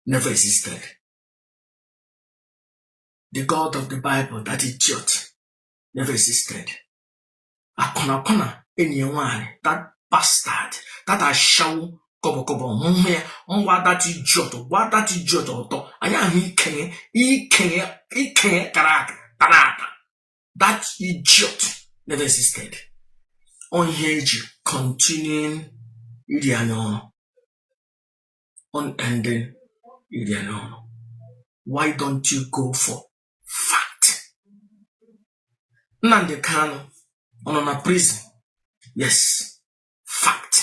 never existed. The God of the Bible, that idiot, never existed. Akwụnakwụna enyi ya nwaanyị, that bastard, that ashawo kọbọkọbọ hụhụ ya ngwa that idiot, gba that idiot ọtọ, anyị ahụ ikenye, ikenye, ikenye kara aka, kara aka. That idiot never existed. Ọ ihe eji continuing iri anyị ọrụ. unending why don't you go for fact nnamdi kanu ọ nọ na prison yes fact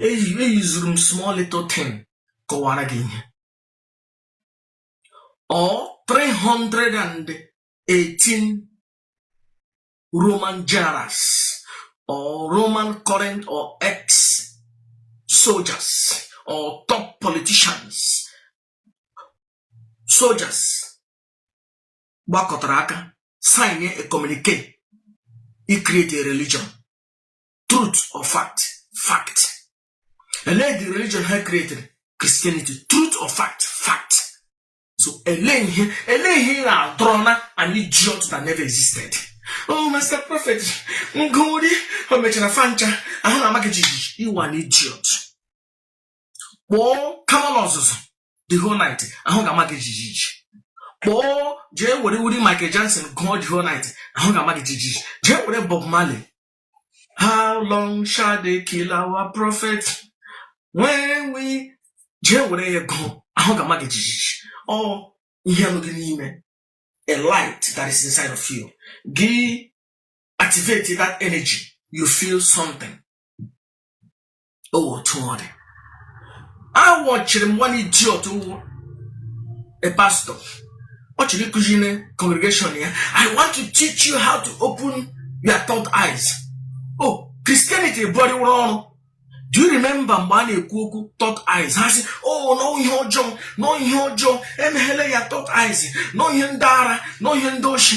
eyuzuru m small little thing kọwara gị ihe ọ 318 Roman generals or Roman current or ex soldiers or top politicians soldiers gbakọtara aka sign a communique i create a religion truth or fact fact elee the religion ha created Christianity truth or fact fact so elee ihe elee ihe ị na-adọrọ na an idiot that never existed oh master prophet ngụri o mechara fa ncha ahụ ga-ama gị jijiji ị wụ an idiot kpọọ kamanu ọzụzụ the whole night ahụ ga-ama gị jijiji kpọọ jee were uri Michael Jackson gụọ the whole night ahụ ga-ama gị jijiji jee were Bob Marley How long shall they kill our prophet when we jee were ya gụọ ahụ ga-ama gị jijiji ọ ihe nọ gị n'ime a light that is inside of you gị activate that energy you feel something otu ọ dị awọchiri m one idiot wụ a pastor ọ chọrọ ịkụzi na congregation ya i want to teach you how to open your third eyes oh christianity bụrịwụrụ ọrụ do you remember mgbe a na-ekwu okwu third eyes ha sị oh n'ọ ihe ọjọọ n'ọ ihe ọjọọ emeghele your third eyes n'ọ ihe ndị ara n'ọ ihe ndị oshi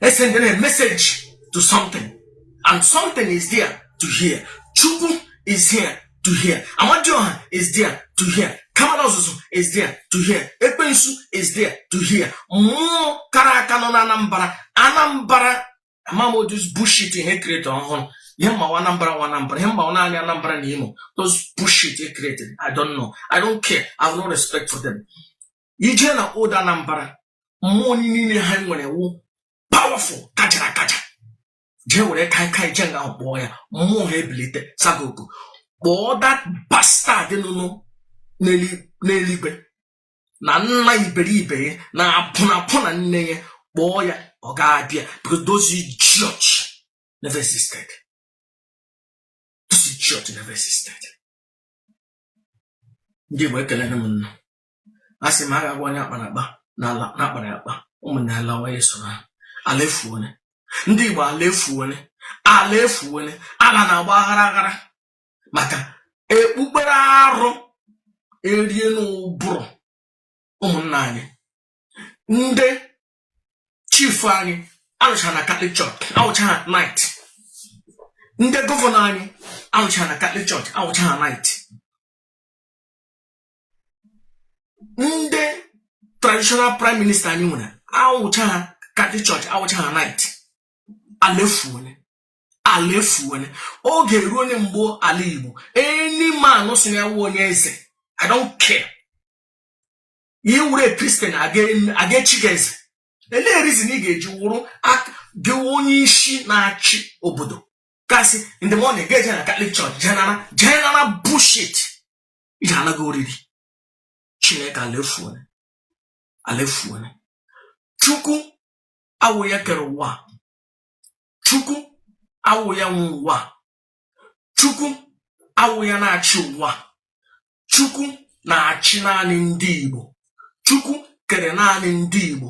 esendere a message to something and something is there to hear chukwu is here to hear amadioha is there to hear kamanu ọzụzụ is there to hear ekwensu is there to hear mmụọ kara aka nọ na anambra anambra amaghị m those bullshit e create ọhụrụ ihe m ma wụ anambra ihe m ma naanị anambra na imo those bullshit e created i don't know i don't care i have no respect for them i jee na old anambra mmụọ niile anyị nwere wụ powerful kachara akacha jee were kai kai jee nga ahụ kpọọ ya mmụọ ha ebilite sagogo kpọọ that bastard nọnụ n'eluigwe na nna iberibe ya na akwụnakwụna nne ya kpọọ ya ọ ga-abịa because those idiots never existed those idiots never existed ndị Igbo ekelere m unu a sị m a ga-agwa onye akpara akpa na ala na akpara ya akpa ụmụnne ya lawa ya so na ha. ala efuone ndị igbo ala efuone ala efuone ala na-agba aghara aghara maka ekpukpere arụ erie n'ụbụrụ ụmụnna anyị ndị chief anyị alụcha na catholic church awụcha ha knight ndị gọvanọ anyị awụcha na catholic church awụcha ha knight ndị traditional prime minister anyị nwere awụcha ha catholic church awụcha ha knight ala efuone ala efuone oge eruone mgbe ala igbo any man sị na ya wụ onye eze i don't care ị wụrụ a christian a ga-echi gị eze elee reason ị ga-eji wụrụ gị onye isi na-achị obodo cause in the morning ga-eje na catholic church je nara bullshit iji anaghị oriri chineke ala efuone ala efuone chukwu awụ ya kere ụwa chukwu awụ ya nwe ụwa chukwu awụ ya na-achị ụwa chukwu na-achị naanị ndị igbo chukwu kere naanị ndị igbo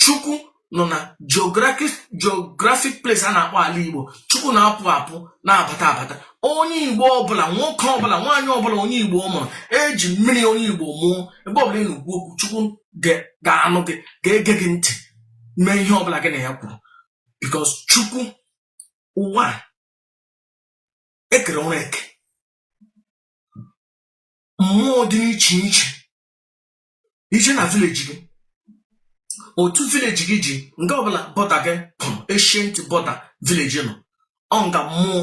chukwu nọ na geographic place a na-akpọ ala igbo chukwu na-apụ apụ na-abata abata onye igbo ọbụla nwoke ọbụla nwaanyị ọbụla onye igbo mụrụ eji mmiri onye igbo mụọ ebe ọbụla ị na-ekwu okwu chukwu ga-anụ gị ga-ege gị ntị mee ihe ọbụla gị na ya kwuru because chukwu ụwa ekere ọrụ eke mmụọ dị n'iche iche i je na village gị otu village gị ji nga ọbụla border gị pụrụ ancient border village nọ ọ nga mmụọ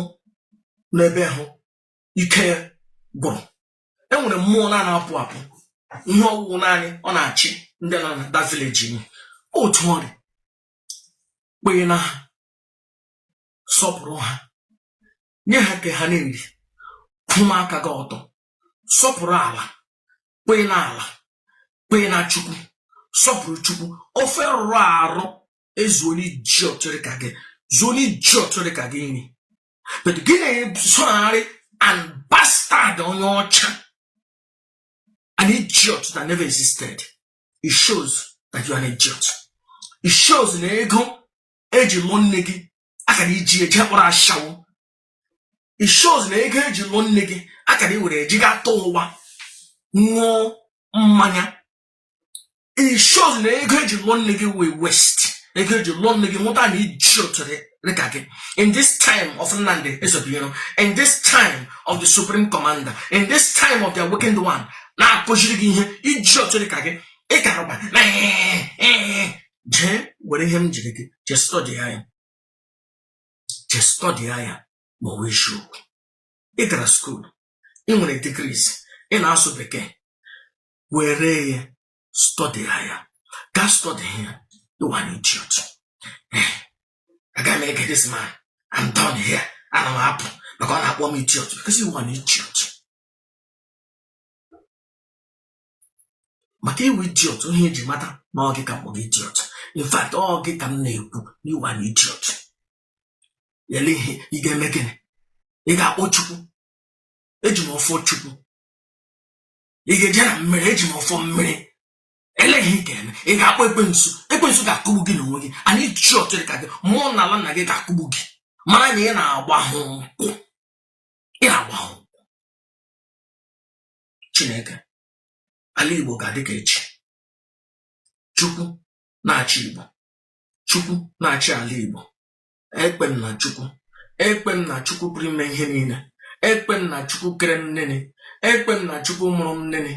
n'ebe hụ ike gwụrụ enwere mmụọ na-apụ apụ ihe ọ wụ wụ naanị ọ na-achị ndị nọ na that village ọ otu ọ dị kpee na ha sọpụrụ ha nye ha nke ha na-eri kwụma aka gị ọtọ sọpụrụ ala kpee na ala kpee na chukwu sọpụrụ chukwu ofe rụrụ arụ ezuo n'iji ọtụrụ ka gị zuo n'iji ọtụrụ ka gị nri but gị na-esogharị a bastard onye ọcha an idiot that never existed it shows that you are an idiot it shows na ego eji lụọ nne gị a kara iji eje kpọrọ ashawo it shows na ego eji lụọ nne gị akara iwere eji ga ta ụgba ṅụọ mmanya it shows na ego eji lụọ nne gị wụ waste ego eji lụọ nne gị mụta an idiot dịka gị in this time of Nnamdi Ezebuiro in this time of the supreme commander in this time of the awakened one na-akụziri gị ihe idiot dịka gị ịkarụba na jee were ihe m jiri gị jee stọdi ya je stọdịa ya ma ọ wụ eziokwu ị gara school ị nwere degrees ị na-asụ bekee were ya stọdịa ya gaa stọdịa ya ị wụ an idiot eh, aga m ege this man I'm done here ana m apụ maka ọ na-akpọ m idiot because ị wụ an idiot maka ị wụ idiot ihe eji mata na ọ gị ka m kpọrọ idiot in fact ọ gị ka m na-ekwu ị wụ an idiot ele ihe ị ga-eme gịnị ị ga-akpọ chukwu eji m ọfọ chukwu ị ga-eje na mmiri eji m ọfọ mmiri ele ihe ị ga-eme ị ga-akpọ ekwensu ekwensu ga-akụgbu gị n'onwe gị an idiot dị ka gị mmụọ n'ala nna gị ga-akụgbu gị mara na ị na-agba ha nkwụ ị na-agba ha chineke ala igbo ga-adị ka echi chukwu na-achị igbo chukwu na-achị ala igbo ekpe m na chukwu ekpe m na chukwu pụrụ ime ihe niile ekpe m na chukwu kere m nene ekpe m na chukwu mụrụ m nene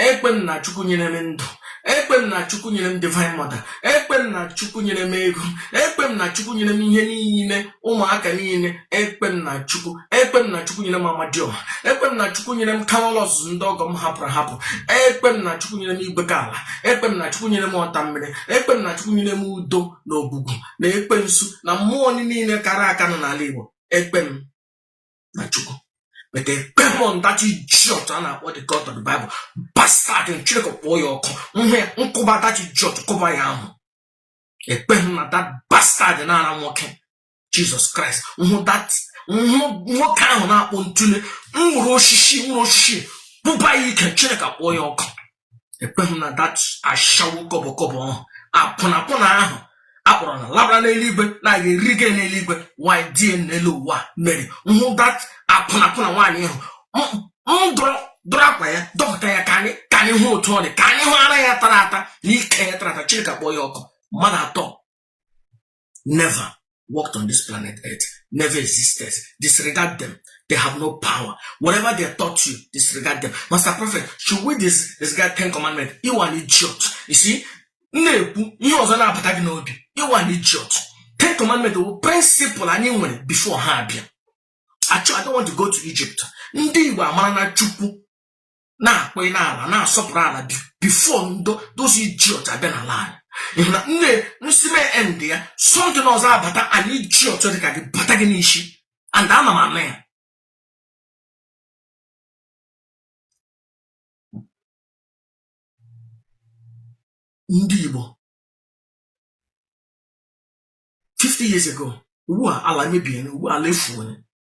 ekpe m na chukwu nyere m ndụ ekpe m na chukwu nyere m divine mother ekpe m na chukwu nyere m ego ekpe m na chukwu nyere m ihe niile ụmụaka niile ekpe m na chukwu ekpe m na chukwu nyere m amadioha ekpe m na chukwu nyere m kamalụ ọzụzụ ndị ọgọ m hapụrụ ahapụ ekpe m na chukwu nyere m igwe ka ala ekpe m na chukwu nyere m ọta mmiri ekpe m na chukwu nyere m udo na ogwugwu na ekwensu na mmụọ niile kara aka nọ n'ala igbo ekpe m na chukwu but ekpeghị m na that idiot a na-akpọ the god of the bible bastard chineke kpọọ ya ọkụ nhe nkụba that idiot kụba ya ahụ ekpeghị na that bastard na-ara nwoke jizọs kraịst nhụ that nwoke ahụ na-akpọ ntụle nwụrụ osisi nwụrụ osisi bụba ya ike chineke kpọọ ya ọkụ ekweghị m na that ashawo kọbọkọbọ ahụ akwụnakwụna ahụ akpọrọ na labara n'eluigwe na-aga arịgo n'eluigwe nwanyị di ya n'elu ụwa mere nhụ that akwụnakwụna nwaanyị ahụ m dọrọ dọrọ akwa ya dọpụta ya ka anyị ka anyị hụ otu ọ dị ka anyị hụ ara ya tara ata na ike ya tara ata chineke kpọọ ya ọkụ mmadụ atọ never walked on this planet earth, never existed. Disregard them. They have no power. Whatever they taught you, disregard them. Master Prophet, should we dis disregard Ten Commandments? You are an idiot. You see, na-ekwu ihe ọzọ na-abata gị n'obi ị wụ an idiot ten commandment wụ principle anyị nwere before ha abịa actually I don't want to go to Egypt ndị Igbo amara na Chukwu na-akpọ isi n'ala na-asọpụrụ ala before ndị those idiots abịa n'ala anyị ị hụ na nne nsi mee end ya something ọzọ abata an idiot dị ka gị bata gị n'ishi and ana m anụ ya ndị Igbo 50 years ago ugbu a ala mebie ugbu a ala efuo